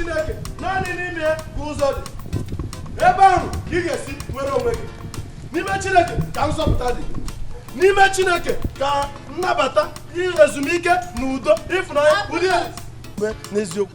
chineke naanị n'ime ya ka ụzọ dị ebe ahụ ka ị ga-esi nwere onwe gị n'ime chineke ka nzọpụta dị n'ime chineke ka nnabata ezumike na udo ịfụnanya dị n'eziokwu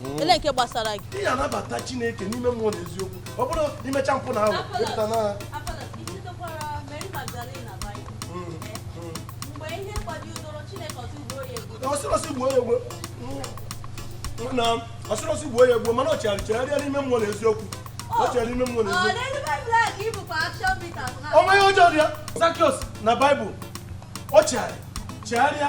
hmm. ele nke gbasara gị ị ga-anabata chineke n'ime mmụọ na eziokwu ọ bụrụ imecha mpụ na ahụ ịpụta na ọ sịrị sị gbuo ya egbuo mana ọ chegharị chegharịa n'ime mmụọ na eziokwu ọ chegharị n'ime mmụọ na eziokwu o mee ihe ọjọọ dịka Zakiọs na Baịbụl ọ chegharị chegharịa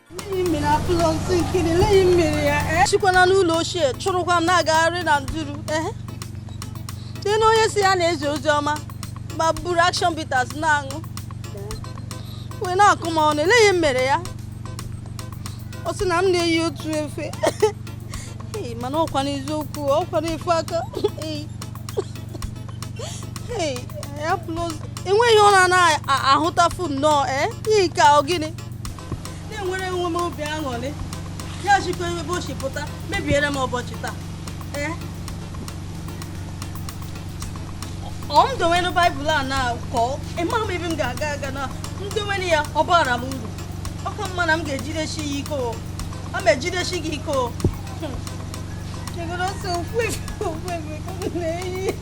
sikwana n'ụlọ ochie chụrụkwa m na-agagharị na nduru dị na onye sị ya na-ezi ozi ọma ma buru action bitters na-aṅụ wee na-akọ m ọnụ ele ihe m mere ya ọ sị na m na-eyi otu efe mana ọkwa n'eziokwu ọkwa n'ofu aka e nwe ihe ọ na-anaghị ahụtafu nnọọ ee eh? ihe nke ọ gịnị na-enwere onwe m obi aṅụrị ya jikwa ebe o si pụta mebiere m ụbọchị taa ee ọ m dowere baịbụl a na ka ịma m ebe m ga-aga aga na m dowere ya ọ baara m uru ọ ka mma na m ga-ejidesi ya ike o aga m ejidesi gị ike o Chegoro sọ ofu efe ofu efe ka m na-eyi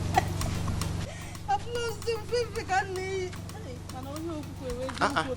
abụla ofu efe ka m na-eyi mana onye okwukwe wee Ah, ah. jụọ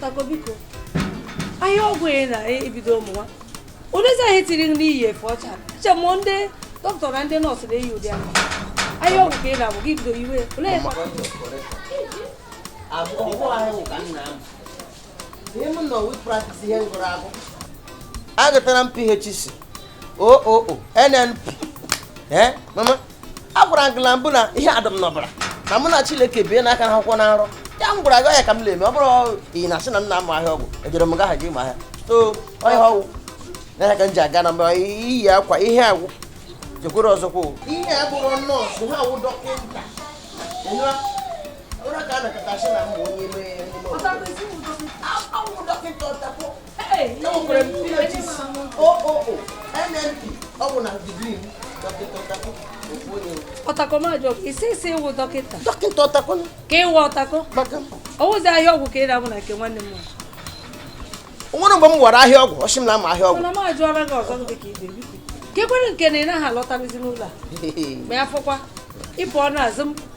Tako biko ahịa ọgwụ ị na-ebido ụmụ nwa onezi ahịa tiri nri iyi efe ọcha che mụ ndị dọkịta na ndị nọọsụ na-eyi ụdị ahụ ahịa ọgwụ ka ị na-abụ gị bido iwe olee ebe agụtara m phc oo nnp ee mama a gwara gị na mbụ na ihe a dị m n'ọbara na mụ na Chineke bie n'aka n'akwụkwọ na nrọ ya m gwara gị ya ka m na-eme ọ bụrụ ị na-asị na m na-amụ ahịa ọgwụ ejere m gaha gị ịmụ ahịa so onye ọgwụ na ka m ji aga na mba iyi akwa ihe agwụ jekwere ọzọkwa ihe a bụrụ nọọsụ ha awụ dọkịta ụra ka a nakọta asị na mbụ onye mee dọkịta ọtakwa ọtakọ m ajụọ ị sị ị sị ị wụ dọkịta dọkịta ọtakọ ka ị wụ ọtakọ ọ wụzi ahịa ọgwụ ka ị na-abụ na nke nwanne m nwere mgbe m wara ahịa ọgwụ ọ sị m na ama ahịa ọgwụ na m ajụọla gị ọzọ dị ka ibe ka e kwere nke na ị naghị alọtabizi n'ụlọ a ma ya fọkwa ịpụ ọnụ ezi m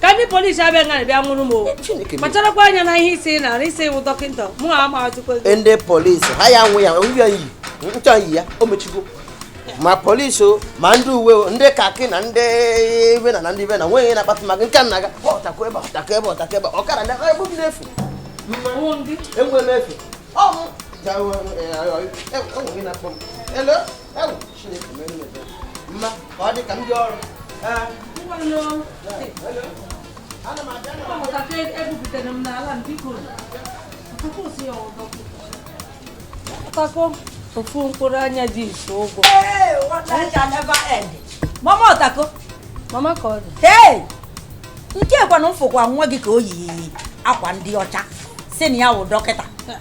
ka ndị polisi abịa nga bịa nwụrụ m o kpacharakwa anya na ihe ị sị na ị sị ị wụ dọkịta mụ ha ma atụkwa ndị polisi ha ya nwụ ya onye yi nchọ yi ya o mechigo ma polisi o ma ndị uwe o ndị kaki na ndị ibe na na ndị ibe na nweghị na-akpata maka nke nna ga ọtakụ ebe ọtakọ ebe ọtakọ ebe ọkara na ebe gị na-efu enwe m efu ọnwụ enwe gị na-akpọ m ọtakọ ofu mkpụrụ anya ji isi ụgwọ mama ọtakọ mama ka ọ dị hey nke kwanụ m fụkwa nwa gị ka o yi akwa ndị ọcha sị na ya wụ dọkịta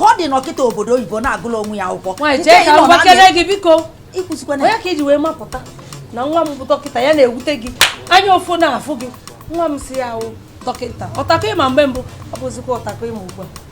ọ dị dọkịta obodo oyibo na-agụla onwe ya akwụkwọ nwaanyị jee ka m gbakere gị biko ọ ya ka i ji wee mapụta na nwa m bụ dọkịta ya na-ewute gị anya ụfụ na-afụ gị nwa m sị ya awụ dọkịta ọtakọ ị ma mgbe mbụ ọ bụzikwa ọtakọ ị ma ugbu a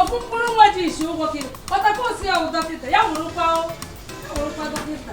ofu mkpụrụ nwa ji isi ụgwọ gị ọtakọ ọ sị ya wụ dọkịta ya wụrụkwa dọkịta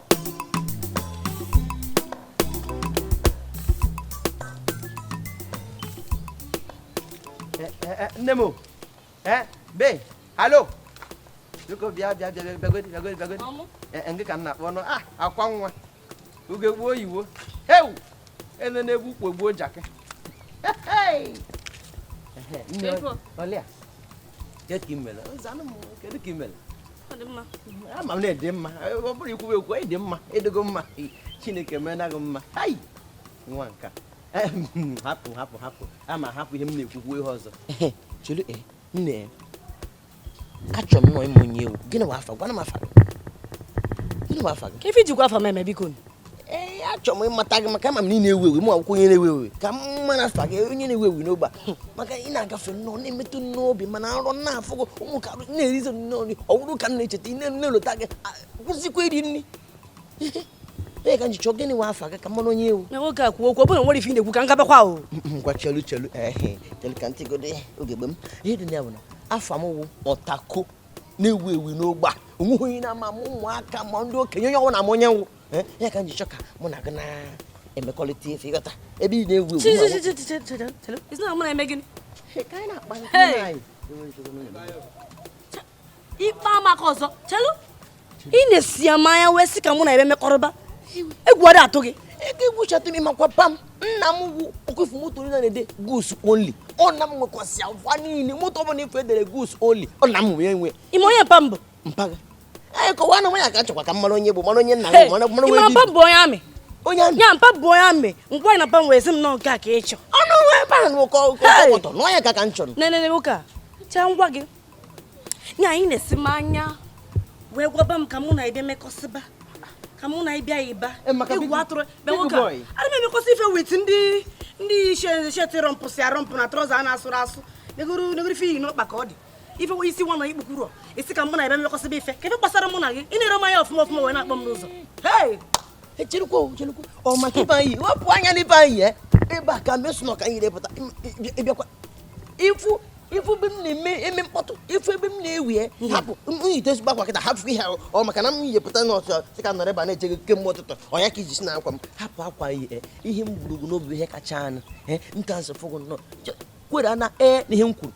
nne m ee be hello biko bịa bịa bịa bịagodi bịagodi bịagodi ngị ka m na-akpọ nụ a akwa nwa ugegbe oyiwo heu ene na-egbu ukpo gbuo jakị olia Kedu ka ị mere? Zanụ m, kedu ka ị mere? ama m na ị dị mma ọ bụrọ ikwu ekwu ị dị mma ị dịgo mma chineke meena gị mma hai nwa nkaa hapụ hapụ hapụ ama hapụ ihe m na-ekwukwu ihe ọzọ chelu e nne e. achọ m nụ ịma onye ị wụ gịnị wụ afa gwanụ m afa gị gịnị wụ afa gị kee ife i jikwa afa m eme biko ee achọrọ m ịmata gị maka ama m na ị na-ewu ewu mụ awụkwa onye na-ewu ewu ka m mara afa gị onye na-ewu ewu n'ogbe a. maka ị na-agafe nnọọ na-emetụ m n'obi ma na nrọ na-afụ gị ụmụ ka na-erizi nnọọ nri ọ bụrụ ka m na-echeta ị na-elota gị akwụsịkwa iri nri ee ka m ji chọọ gịnị nwa afa gị ka m mara onye ị wụ nwoke a kwuo okwu ọ bụrụ na nwere ife ị na-ekwu ka m gabakwa o ngwa chelu chelu ehe chelu ka ntị godo ya oge gbe m ihe dị na ya bụ na afa m wụ Otako na-ewu ewu n'ogbe a onweghị onye na-ama m ma ụmụaka ma ndị okenye onye ọ wụna ama onye m wụ eh, ya ka m ji chọọ ka mụ na gị na-emekọrịta ife ịghọta ebe ị na-ewu ewu ịkpa m aka ọzọ chelu ị na-esi ya mmanya wee sị ka mụ na ị bịa mekọrịba egwu adị atụ gị ego egwuchatụ m ịmakwa mpa m nna m wụ ọkwa ị fụ moto niile na-ede goods only ọ nna m nwekwasịa ha niile moto ọ bụla ị fụ e dere goods only ọ nna m wee nwe ịma onye mpa m bụ mpa gị ee kọwa na nwanyị ka chọkwa ka m mara onye bụ mara onye nna m mara mara onye mpa m bụ onye army onye army ya mpa m bụ onye army ngwa na mpa m wee sị m nọ nke a ka ị chọ ọnụ nwa ebe a na ụkọ ọkọtọ n'ọnya ka ka m chọrọ nene nwoke a chaa ngwa gị na ị na-esi mmanya wee gwaba m ka mụ na ị bịa mekọsịba ka mụ na ịbịa ịba eh, egwu atụrọ ị bịa nwoke a ana m emekọsị ife with ndị yi shirt rọmpụsị arọmpụ na trouser a na-asụrọ asụ negodu negodu ife i yi n'ọkpa ka ọ dị ife nwe isi nwa na ikpukuru isi ka mụ na ị bịa mekọsịba ife kee ife gbasara mụ na gị ị na-ere mmanya ọfụma ọfụma wee na-akpọ m n'ụzọ cherukwa cherukwa ọ maka ife m yi wepụ anya n'ife m yi ya eh? ebe a ka mesụ na ọ ka m yiri pụta ị bịakwa ị fụ ị fụ ebe m na-eme eme mkpọtụ ị fụ ebe m na-ewu e hapụ m yite ezigbo akwa kịta hapụ ihe ahụ ọ maka na m yipụta n'ụtụtụ sị ka m nọrọ ebe a na-eche gị kemgbe ụtụtụ ọ ya ka i ji sị na akwa m hapụ akwa ihe ihe m buru gị n'obi ihe kacha anụ ka m si fụ gị nnọọ kwere na ee na ihe m kwuru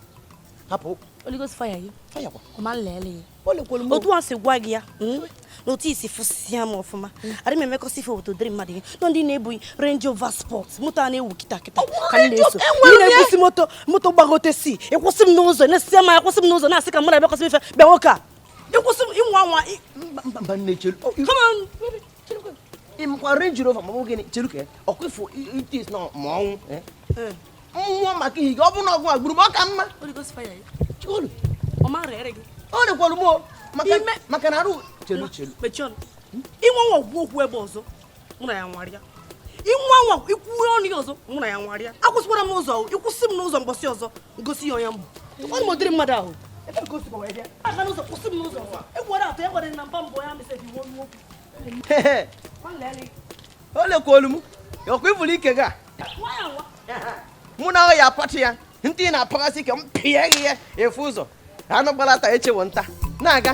hapụ Holy Ghost fire you. Fire kwa. Come and lele. otu a si gwa gị ya hmm? na otu i si fụsịa m ọfụma adị m emekọsị ife with ụdịrị mmadụ ihe na ọ ndị na-ebu Range Rover Sport moto a na-ewu kịta kịta ka m na-eso ndị na-ebusi moto moto gbagote si ịkwụsị m n'ụzọ na-esi isi mmanya akwụsị m n'ụzọ na-asị ka mụ na ị mekọsị ife bịa nwoke a ịkwụsị m ị nwaa anwa mba nne chelu ịmakwa Range Rover ma ọ bụ gịnị chelu ka ọkwa ị fụ itis na ma ọnwụ eh? Eh. nwụọ maka ihe gị ọ bụrụ na ọ gị gburu m ọ ka mma ọ dịkwara m maka na arụ chelu chelu ị nwaa anwa kwuo okwu ebe a ọzọ mụ na ị anwarịa ị nwaa anwa ikwuwe ọnụ ya ọzọ mụ na ị anwarịa akwụsịkwara m n'ụzọ ịkwụsị m n'ụzọ mbọsị ọzọ m gosi ị onye m bụ ọ m ụdịrị mmadụ ahụ ebe ka o sikwa wee bịa aga n'ụzọ kwụsị m n'ụzọ egwu adị atụ egwere na mpa m bụ ya mesịrị iwu onye okwu o lekwa olu m ọkwa ị fụrụ ike gị a mụ na ya apatụ ya ntị ị na-apaghasị ike m pịa gị ya efu ụzọ anụ gbalaa taa echi wụ nta na-aga